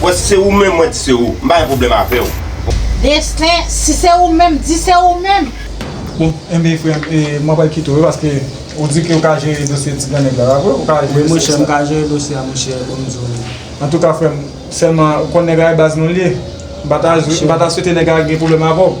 Wè si se ou menm mwen di se ou. M pa gen pwoblèm avè w. Destin, si se ou menm, di se ou menm. Bon, enben frè m, e mwen pral kite w wi paske ou di ke ou ka jere dosye ti grannèg la, pa vre? Ou ka jere dosye sa? Wi monchè, m ka jere dosye a monchè, bon m di w wi. Antouka frè m, sèlman ou konn nèg la e baz nou l ye. M pa ta swete nèg la gen pwoblèm avè w.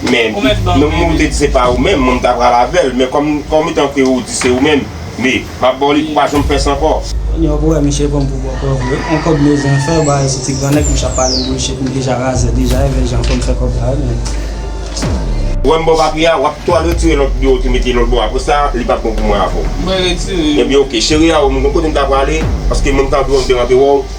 Men, non mwen ou te di se pa ou menm, mwen m ta pral avè l, men kòm etan ke ou di se ou menm, me, m ap ba w li pou pa janm fè sa ankò. Kounye a ou wè misye pran m pou bòkò vre, on kòb Mezen fè ba yon ti ti grannèg misye ap pale m bullshit, m deja razè deja, evè jan pou m fè kòb la menm. Wè m ba w papye a, w ap tou al retire lòt biyè w te mete lòt bò a, apresa li pa p bon pou mwen avè w. Mwen retire yo. Ebyen ok, cheri a ou m gen kote m ta prale, paske mwen m ta antre w andedan m te wè w.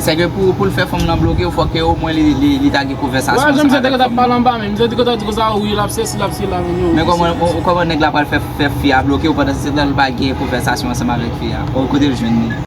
Se ke pou l fè fanm lan bloke w fò ke omwen li ta gen konvèsasyon sa avèk fanm lan. Mwen janm di se te gen ta pale anba men. Mwen te di ke ta di ke sa wi lap se si lap se la men yo. Men kòman nèg la pral fè fi a bloke w pandan se tan l pa gen konvèsasyon ansanm avèk fi a. Bon kote l jwenn li.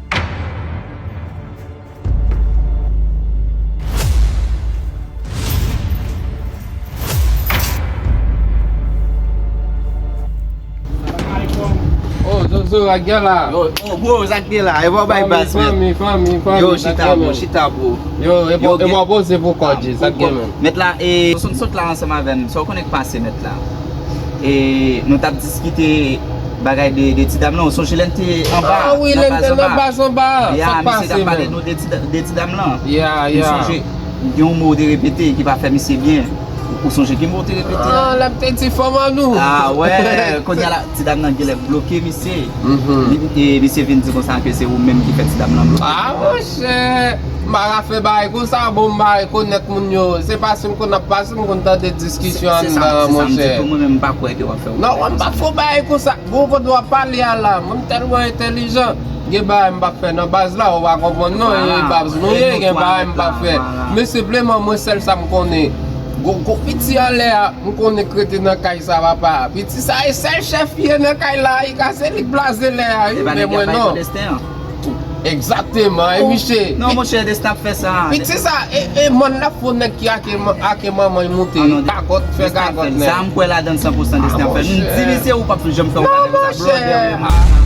Zozo ak gen la Bro zak gen la Ewa bay bas men Fanmi fanmi fanmi Yo chita bro chita bro Yo ewa bo se pou kò di zak gen men Met la e Zozo m sot la ansanm avèm Sa w konnen k pase met la E nou tap diskite bagay de ti dam lan ou sonje lèn te anba a nan baz anba a baz anba a ya misye tap pale nou de ti dam lan ya ya ou sonje gen yon mo ou te repete ki pa fè misye byen ou sonje ki mo ou te repete a a lap te di fanm an nou a wè kounye a la ti dam lan genlè bloke misye e misye vin di konsa ke se ou menm ki fè ti dam lan bloke a a monchè mara fè bagay konsa bon mba rekonèt moun yo se pa sim konn ap pase m konn tande diskisyon an se sa m di tou mwen menm m pa kwè ke wap fè. Non mwen m pap fon bagay konsa bon kote wap pale a la mwen m tèlman entèlijan gen bagay m pap fè nan baz la ou pa konprann non e baz nou ye gen bagay m pap fè men senpleman mwen sèl sa m konnen gon piti anlè a m konnen k rete nan kay sa papa piti sa e sèl chèf ki ye nan kay la e ka se li k blaze lè a wi men mwen non. Exactement e miche. Non monchè des tap fè sa. Piti sa e mòn nap fon nèg ki ake manmanl moute gagòt fè gagòt nèg. Sa mkwè ladann san pousan des nap fè. M di misye ou pap janm fè yon bagay konsa blòdè ou ye monchè.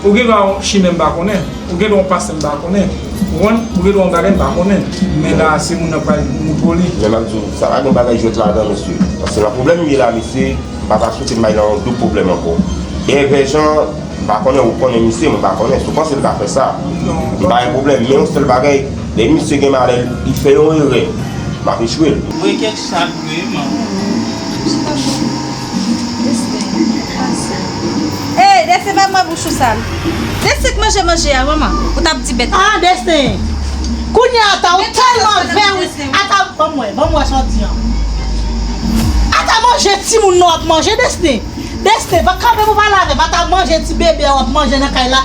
Ou gen dwa yon chimè m pa konnen, ou gen dwa yon pastè m pa konnen, ou konprann, ou gen dwa yon bagay m pa konnen, men la a se moun nan k pral di m pou li. Men m ap di w, sa pa gen bagay jwèt ladan mesye, paske nan pwoblèm m ye la mesye, m pa ta swete m bay nan yon doub pwoblèm ankò. Dèyè vè jan an, m pa konnen ou konnen misye, mwen pa konnen, si w panse l ka fè sa, m pa gen pwoblèm, men yon sèl bagay, lè misye gen malè, li fè yon erè, m ap echwe l. Mwen kèk sa k vre manman. Destin pase. Hey Destin bay mwen bouche ou sal. Destin k manje manje a manman ou tap di bèt. Ah Destin Kounya ata ou telman vè wi ata banm wè banm wè sa w di an ata manje timoun nan wap manje Destin Destin va kanpe pou pale avèm ata manje ti bebe a wap manje nan kay la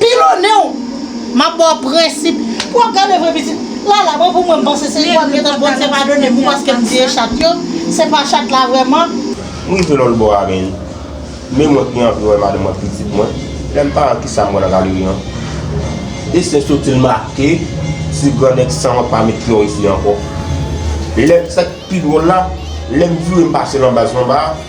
Pilonne'w Map baw prensip Pou wap gade vre pitit Lala mwen pou mwen m panse se igual gentan Bondye padonem pou paske m tiye chat yo Se pa chat la vreman. M rive lòt bò a men Men mwen pi anvi wè madanm ak pitit mwen Lèm pa wè kisa m wè nan galeri an Destin sotil make Ti grannèg san wè pa met pye'w isi ankò Lèm sak pi dwòl la Lèm vire m pase lan baz lan ba a.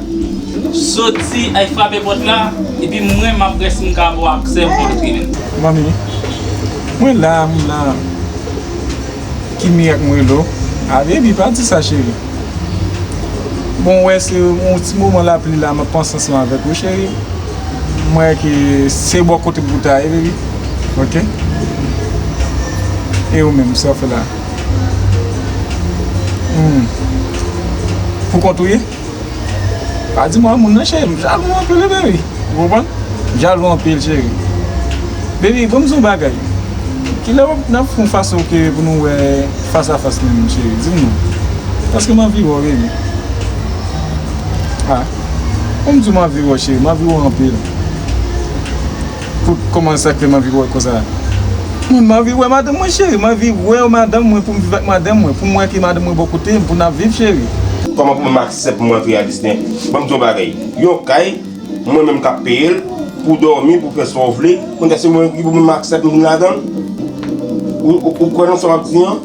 Soti al frape pòt la epi mwen map wè si m ka ba w aksè pou w antre. Manmi, Mwen la, mwen la. Ki mirak m rele w? A Baby pa di sa cheri. Bon wè se yon ti moman lapli la map panse ansanm avèk ou cheri. M wè ke se bò kote m pou ta ye baby ok. E ou menm sa w fè la? Humm. Pou kont ou ye? Pa di mwen moun nan cheri m jalou anpil wi baby ou konprann m jalou anpil cheri baby banm di yon bagay kilè wap nap fon fas ok pou nou wè fas a fas menm cheri dim non paske m anvi wèw baby ah banm diw m anvi wèw cheri m anvi wèw anpil. Pou kòman sa ke m anvi wè konsa? Humm m anvi wè madanm mwen cheri m anvi wèw madanm mwen pou m viv ak madanm mwen pou m wè ki madanm mwen bò kote m pou n ap viv cheri. Kòman pou m aksèp pou m antre a Disney? Ban m di yon bagay, yon kay mwen menm k ap peye l pou w dòmi pou w fè sa w vle, kounye a se mwen ki pou m aksèp m vin ladan l? Ou kwè nan sa w ap di an?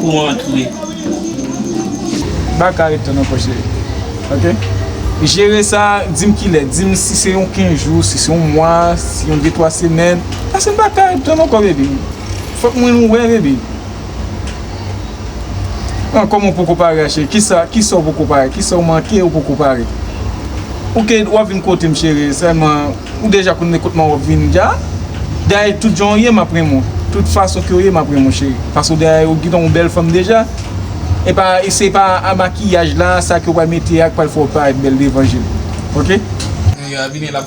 Pou antre. Baka ret nan pòch li. Ok. Jere sa, di m kilè. Di m si se yon 15 jou, si se yon mwa, si yon 2, 3 semèn. Pase baka ret nan kò bebi. Fòk mwen wè bebi. An kòman ou poko pare a cheri kisa kisa ou poko pare kisa ou manke ou poko pare ok wap vin kotem cheri sèlman ou deja konn men kot mwen wap vin dja dayè tout jan ou ye map renmen w tout fason ke ou ye map renmen w cheri paske ou dayè ou gintan yon bèl fanm deja epa se pa a makiyaj la sa ke ou pral mete a ki pral fè ou parèt bèl devan jem ok.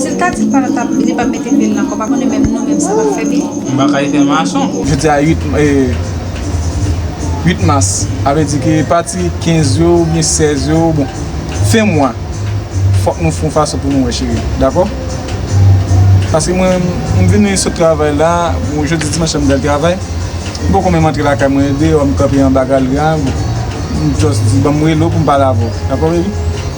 Sil ta di pa tap li pap mete pye l nan kò pa konnen menm nou menm sa nap fè byen. Bakay fè mason. Jodi a 8 mas, sa vle di ke pati 15 yo ou byen 16 yo, bon fen mwa fòk nou fon fason pou nou wè cheri, dakò? Paske mwen m vini sot travay la, bon jodi dimanch la m pral travay, m poko menm antre lakay mwen deyò m kanpe anba galri a, bon m just di banm rele w poum pale avè w, dakò baby?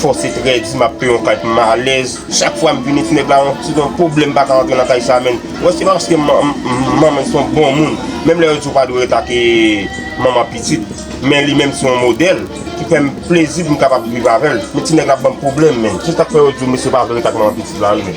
Fò se trè di map pè yon kay pou m alèz chak fwa m vini ti nèg la yon ti gon pwoblèm m pa ka antre nan kay sa menn wè se pa paske manman son bon moun menm lè yo di ou pa dwe ret ak manman pitit men li menm se yon modèl ki fè m plezi pou m kapab viv avè l men ti nèg la ap ban m pwoblèm menn se sak fè yo di w mesye pa vle ret ak manman pitit la menn.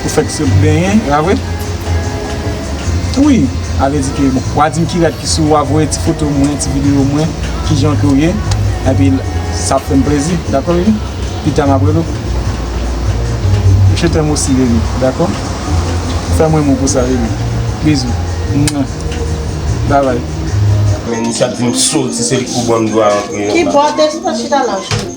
Ou fèk sot benyen la vre ui avle di ke bon wa dim ki rad ki sou ou wa voye ti foto mwen ti video mwen kijan ke ou ye epi sa ap fèm plezi dakò bebi pita map rele ou je t'aime aussi bebi dakò fè mwen mou pou sa bebi bisou mwah bye bye. Men Nisha t dim soti se li k pou banm dwa antre yo la. Ki bò, te sipoz chita la joune.